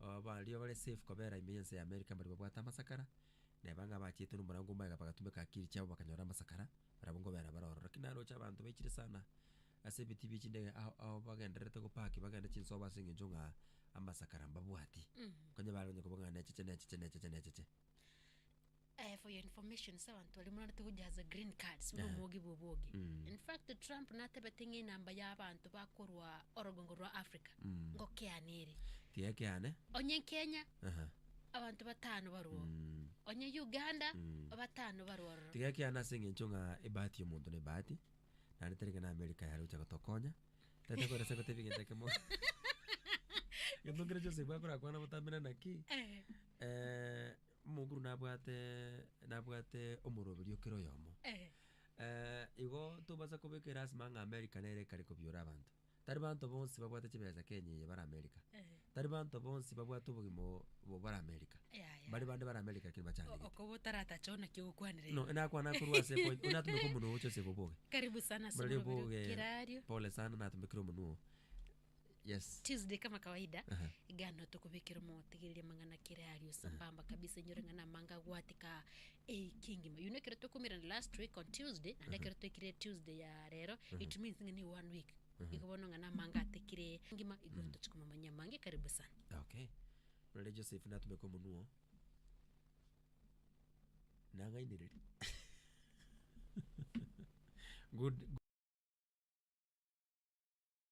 Aba baria bare safe kobera ime y'ense ya Amerika mbaria babwate amasakara, na eba ng'a abachiete nomorango omoega bagatumeka akiri chiabo bakanyora amasakara, barabwo nkobera bare ororo. Lakini naroche abanto baichire sana ase ebitii bie chindege ao ao bagendererete gopaki bagende chinsobo ase eng'encho ng'a amasakara mbabwati. Onye bare onye koba ng'a necheche necheche necheche necheche. Eh, for your information, ase abanto baria morarete gojaza green cards, buna Aha. omogi bwa obogi. Mm. In fact, Trump natebete ng'a enamba ya abanto bakorwa orogongo rwa Africa Mm. ngokeana ere. Tiga keane. Onye Kenya, Aha. abanto batano barwa oo. Mm. Onye Uganda, Mm. batano barwa ororo. Tiga keane ase eng'encho ng'a ebahati y'omonto nebahati, naende tari ng'a na America yare gocha gotokonya. Tata kwera ase gotebia egento ekemo. Egento nkere Joseph akorakwana botamera naki, Eh. eh, Omokuru nabwate nabwate omoroberio kera oyomo. Eh, igo tobasa kobekera ase mang'a America nere ekare kobiora abanto. Tari banto bonsi babwate chibesa Kenya eye bare America. Tari banto bonsi babwate obogima o- obo bare America. Yaya. Bari bande bare America lakini O- bachandegete. okoba otaratacha ona ki ogokwanera No, ime. nakwana korwa ase point, buna atumeka omonwa oo Joseph Oboge. Karibu sana ase Muraria omoroberi o Oboge, Kirario. pole sana natumekire omonwa oo. Yes. Tuesday kama kawaida Aha. iga nao tokobekera omotigereria amang'ana kere ario sambamba kabisa inyore ng'a namanga agwatika ewiki engima you know ekero twakomerana last week on tuesday naende ekero twaikire tuesday ya rero it means ng'a ne one week igo bono ng'a namanga atikire engima igo tochi komomanya amange karibu sana okay rore joseph natumeka omonwa oo nang'ainereria good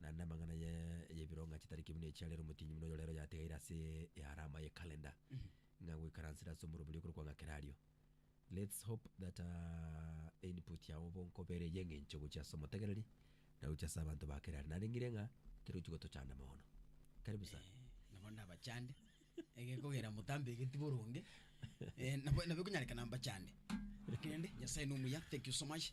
Naende amang'ana aya y'ebironga chitari ki buna echi arere omotienyi buna oyo rero yategeire ase earama ye calendar ng'a goikaransera ase omorobio oria okorokwa ng'a Kerario. Let's hope that input yao bonkobere y'eng'encho gochia ase omotegereri na gochia ase abanto ba Kerario. Narengire ng'a kerochio gotochande mono. Karibu sana. Nabo ndabachande ege kogera motambe egeti boronge nabo nabo ekonyarekana mbachande. Rende Nyasaye nomuya thank you so much.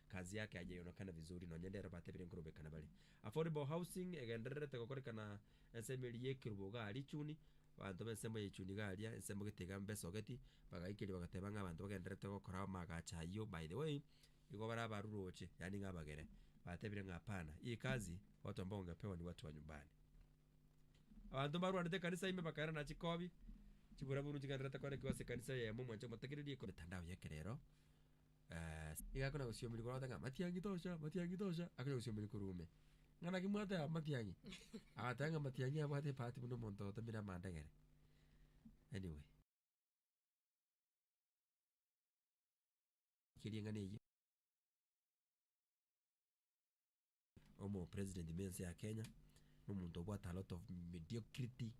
Kazi yake aye yonekane vizuri nonya nde ero batebire nkorobekana bare. Affordable housing egendererete gokorekana ensemo eria y'ekerubo iga aria chuni, abanto b'ensemo ya echuni iga aria, ensemo gete iga mbe sogeti, bagaikeria bagateba ng'a abanto bagendererete gokora amaagacho ayio, by the way, igo bare abaruroche, yaani ng'a abagere. Batebire ng'a hapana, hii kazi watu ambao wangepewa ni watu wa nyumbani. Abanto mbarwanete ekanisa ime bakairana chikobi, chibura-buru chigendererete koanekigwa ase ekanisa eyemo, mwanche motegererie. Mitandao y'ekerero. Aase. Nigo akona gosiomiri korwa ng'a matiang'i tocha, matiang'i tocha, akonya gosiomiri korwa ime. Ng'a naki mwateba matiang'i? Agateba ng'a matiang'i abwate ebahati buna omonto otemire amandagera. Anyway. Keria eng'ana eyio. Omo president me ense ya Kenya na omonto obwate a lot of mediocrity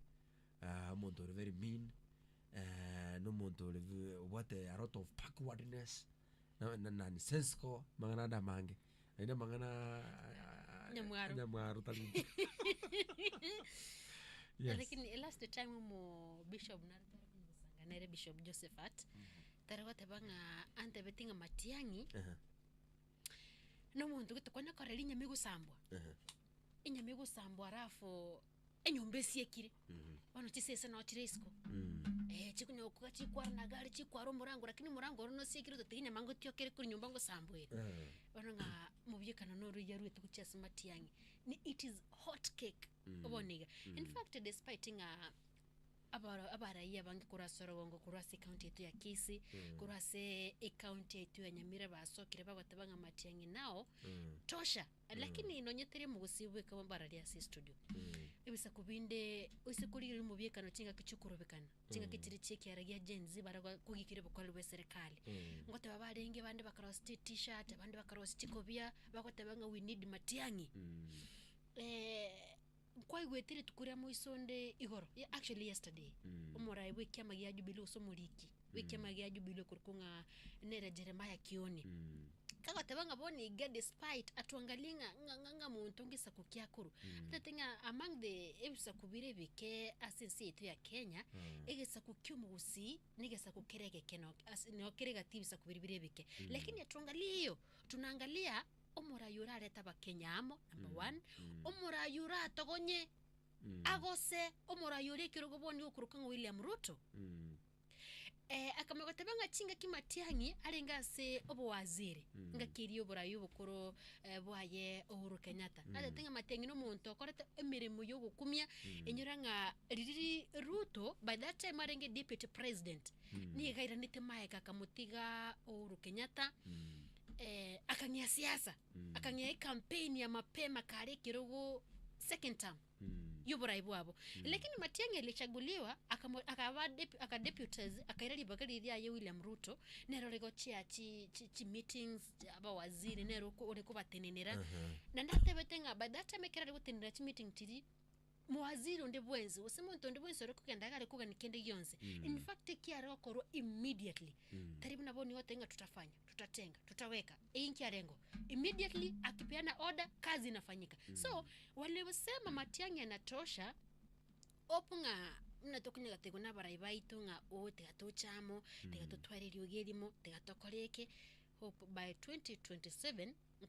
ah, omonto ore very mean eh, na omonto ore ve- obwate a lot of backwardness na- na- nani sensical mang'ana ande amange naende amang'ana ah, Nyamwaro. nyamwaro tari yes lakini last time omo bishop nare tore kumusanga nere bishop josephat tare goteba ng'a antebeti ng'a matiang'i Aha. Na omonto gete kwana korera enyama egosambwa, Ehe. enyama egosambwa alafu enyomba esiekire, Mhm. bono chisese no chire isiko, Mm. eh chikonyo koba chikwara na gari chikwara omorango lakini omorango oro nosiekire ototebe enyama ngotioka ere kore nyomba ngosambwere. Eh. Bono ng'a mobuyekano na oroyia aruete gochia ase matiang'i, ni it is hot cake, Mm. obonige. In Mm. fact despite ng'a Abaro abaraiya abange korwa ase orogongo korwa ase ecounty yaito ya Kisii Mm. korwa ase ecounty yaito ya Nyamira basokire bagoteba ng'a Matiang'i nao Mm. tosha lakini nonye teri omogusii bweka mbararia ase estudio Mm. ebisaku binde oise korigereria omobiekano chingaki chiokorobekana chingaki Mm. chiri chiekiara gia Gen Z bare go- kogikera obokoreri bwa eserekari Mm. ngoteba barenge bande bakarosia chi t-shirt abande bakarosia chikobia bagoteba ng'a we need Matiang'i Mm. eh, Nkwaigwete rituko ria moiso onde igoro, actually yesterday, omorai bw'ekiama gia Jubilee gose omoriki bw'ekiama gia Jubilee okorokwa ng'a nere Jeremiah Kioni, kagoteba ng'a bono iga despite atuangalie ng'a ng'a ng'a monto ngesaku kiakorwa, atagete ng'a among the ebisaku bire ebike ase ense yaito ya Kenya, egesaku kia omogusii negesaku kere egekeno ase noo kere egati ebisaku biria bire ebike, lakini atuangalie eyo tunaangalia. Omoraai orarete abakenya amo, number one, omoraai oratogonye Ah, gose omoraai oria ekerogo bono iga okorokwa ng'a William Ruto, eh, akamanya goteba ng'a chingaki Matiang'i arenge ase obowaziri, ngaki eria oboraai obokoro eh, bwaye Uhuru Kenyatta, natete ng'a Matiang'i na omonto okorete emeremo ya ogokumia, enyora ng'a riria Ruto, by that time arenge deputy president, nigo airanete maega akamotiga Uhuru Kenyatta, Eh, akang'ea siasa Mm. akang'ea ekampeni ya mapema kare ekero go second term Mm. y'oborai bwabo lakini matiang'i alichaguliwa akamo- akaba dep- akadeputes akaira ribaga riri riaye william ruto nero ore gochia chi- chi- chimeetings chia abawaziri nero oko- ore kobatenenera Aha. na natebete ng'a by that time ekero ari gotenenera chimeeting chiria Mowaziri onde bwensi, gose monto onde bwensi ore kogenda iga are kogania kende gionsi, in fact eki are gokorwa immediately, tari buna bono nigo oteba ng'a tutafanya, tutatenga, tutaweka, eye inki arengo? Immediately akipeana order, kazi inafanyika. So, waliosema matiang'i yanatosha, hope ng'a buna tokonyora gotegwa nabarai baito ng'a oo tiga toche amo, tiga totware eriogi erimo, tiga tokore eke, hope by 2027 nko.